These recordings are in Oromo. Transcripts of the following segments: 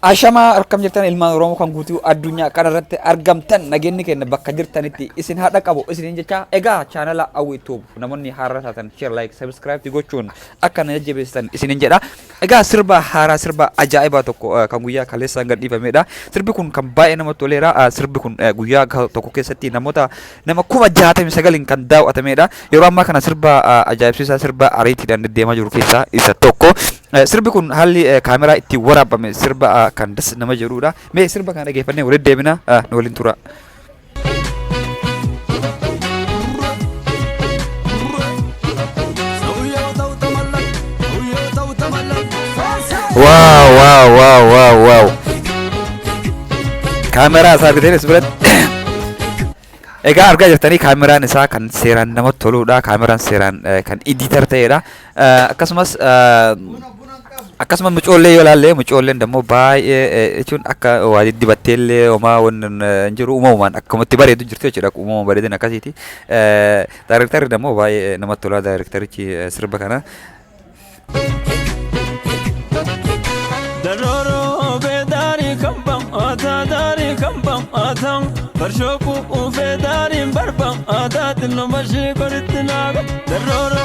Ashamaa harkam jirtan ilmaan Oromoo kan guutuu addunyaa kana irratti argamtan nageenyi keenya bakka jirtanitti isin haadha qabu isiniin jecha egaa chaanala Awwii Tuub namoonni haarra taatan share like subscribe gochuun akka na jajjabeessitan isiniin jedha Egaa sirba haaraa sirba ajaa'ibaa tokko kan guyyaa kaleessaan gad dhiifamedha. Sirbi kun kan baay'ee namatti toleera. Sirbi kun guyyaa tokko keessatti namoota nama kuma jaatamii sagaliin kan daaw'atamedha. Yeroo ammaa kana sirba ajaa'ibsiisaa sirba ariitiidhaan deddeemaa jiru keessaa isa tokko. Sirbi kun haalli kaameraa itti waraabame sirba kan das nama jedhudha. Mee sirba kana dhageeffannee waliin deebina nu waliin tura. Waaw waaw waaw waaw waaw. Kaameraa isaa argitee as biratti. Egaa argaa jirtanii kaameraan isaa kan seeraan namatti toludha. Kaameraan seeraan eh, kan idiitar ta'edha. Eh, Akkasumas eh, Akkasuma mucoollee yoo ilaalle mucoolleen dammoo baay'ee eh, jechuun akka waa diddibattee illee homaa wanni hin hin jiru uumamumaan akkamatti bareedu jirti jechuudha uumama bareedina akkasiiti. Eh, Daarektarri dammoo baay'ee namatti tolaa daarektarichi eh, sirba kana. Daroro be dari kambam ata dari kambam ata Barshoku ufe dari barbam ata Tino bashi koritina Daroro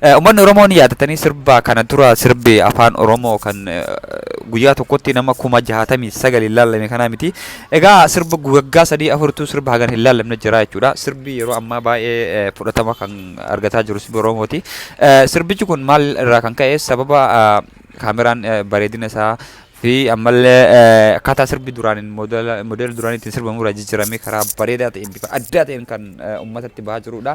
Uummanni Oromoo ni yaadatanii sirba kana dura sirbi afaan Oromoo kan guyyaa tokkotti nama kuma jahaatamii sagal hin laallame kanaa miti. Egaa sirba waggaa sadii afurtuu sirba hagan hin laallamne jira jechuudha. Sirbi yeroo ammaa baay'ee fudhatama kan argataa jiru sirbi Oromooti. Sirbichi kun maal irraa kan ka'e sababa kaameraan bareedina isaa fi ammallee akkaataa sirbi duraaniin moodela duraanii ittiin sirbamu irraa jijjiiramee karaa bareedaa ta'een bifa addaa ta'een kan uummatatti bahaa jirudha.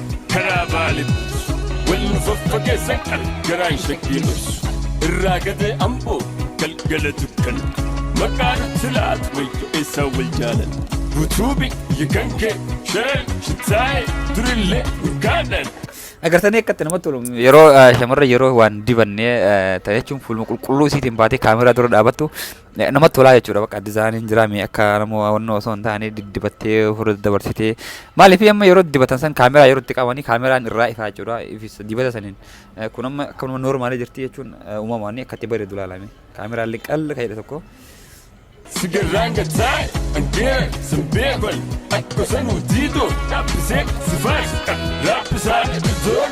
karaa baale buusu wal nu faffageessan kan garaan shakkii dhoksu irraa gadee amboo galgala dukkana maqaa nutti laatu wayyo eessaa wal jaalan butuubi yikankee shareen shitaaye durillee urgaadhaan Agartanii akkatti namatti tolu yeroo eh, shamarra yeroo waan dibannee eh, ta'e jechuun fuuluma qulqulluu isiitiin baatee kaameraa dura dhaabattu Namatti tolaa jechuudha bakka dizaayiniin jiraa mee akka namoo hawwannoo osoo hin taane diddibattee ofirra dabarsitee maaliif amma yeroo dibatan san kaameraa yeroo itti qabanii kaameraan irraa ifaa jechuudha ifis dibata saniin Eh, kun amma akka nama noormaalii jirti jechuun eh, uumamaan akka itti bareedu ilaalame kaameraan liqqal ka'edha tokko. Sigaraan gataa angeen sanbeeban akka sanuu diidoo dhaabbiseek sifaas raabbisaa dhibisoon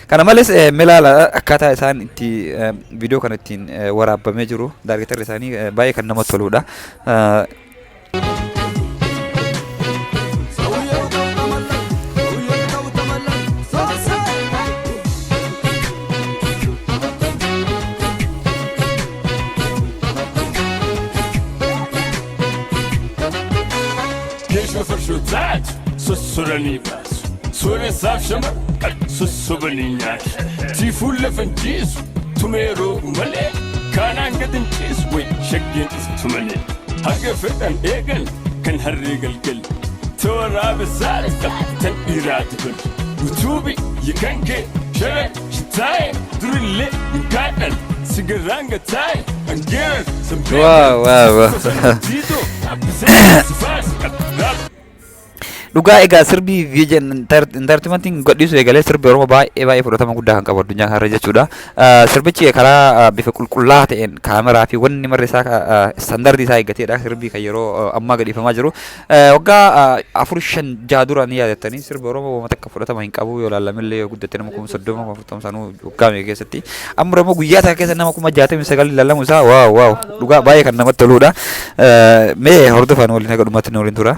Kana malees eh, mee ilaala akkaataa isaan itti eh, viidiyoo kana ittiin eh, waraabamee jiru daargeetarri isaanii eh, baay'ee kan namatti toludha. Eh, Genç ve fırşatçı Susturanı Sooreessaaf shama sossobanii nyaate. Tiifuu lafa hin ciisu tumee roobu malee. Kaanaan gad hin ciisu way shaggeen dhuftu malee. Haga fedhan eegan kan harree galgal. Tooraaba saala tan dhiiraa tuban. Utuubi yakan kee shara shitaaye durillee hin kaadhan sigaraan gataaye angeeran Wow, wow, wow. sanbeeran. Dhugaa egaa sirbi vision entertainment gadhiisu eegalee sirbi Oromoo baay'ee baay'ee fudhatama guddaa kan qabu addunyaa kanarra jechuudha. Ah, Sirbichi karaa ah, bifa qulqullaa ta'een kaameraa fi wanni marri isaa ah, standardii isaa eeggateedha sirbi kan yeroo ah, ammaa gadhiifamaa jiru. Eh, Waggaa ah, afur shan jaha dura ni yaadattanii sirbi Oromoo wama takka fudhatama hin qabu yoo laallamillee yoo guddatte nama kuma soddoma kuma afurtama sanuu waggaa meeqa keessatti. Amma immoo guyyaa takka keessa nama kuma jaatamii sagal laallamu isaa waaw waaw dhugaa baay'ee kan namatti toluudha. Eh, Mee hordofaan waliin haga dhumaatti nu waliin tura.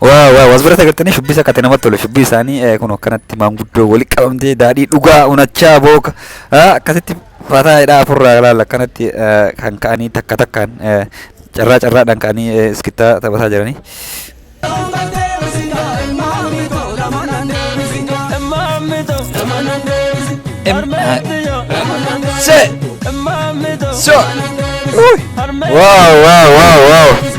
Waa waa was bira sagartanii shubbisa kate namatti tolu shubbii isaanii eh, kun akkanatti maanguddoo wali qabamtee daadhii dhugaa unachaa booka ah, akkasitti fataa hidhaa afurraa laala akkanatti eh, kan ka'anii takka takkaan eh, carraa carraadhaan ka'anii eh, iskittaa taphataa jiranii. Se. So. Wow, wow, wow, wow.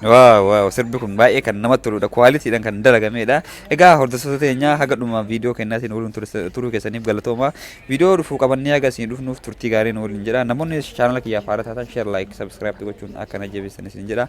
Waaw waaw sirbi kun baay'ee kan namatti toludha. Kwaalitiidhaan kan dalagameedha. Egaa hordoftoota teenyaa haga dhuma viidiyoo kennaatiin waliin tursa- turuu keessaniif galatooma. Viidiyoo dhufuu qabannee haga isin dhufnuuf turtii gaarii nu waliin jedha. Namoonni chaanala kiyyaaf haaraa taatan share, like, subscribe gochuun akka na jabeessan isin jedha.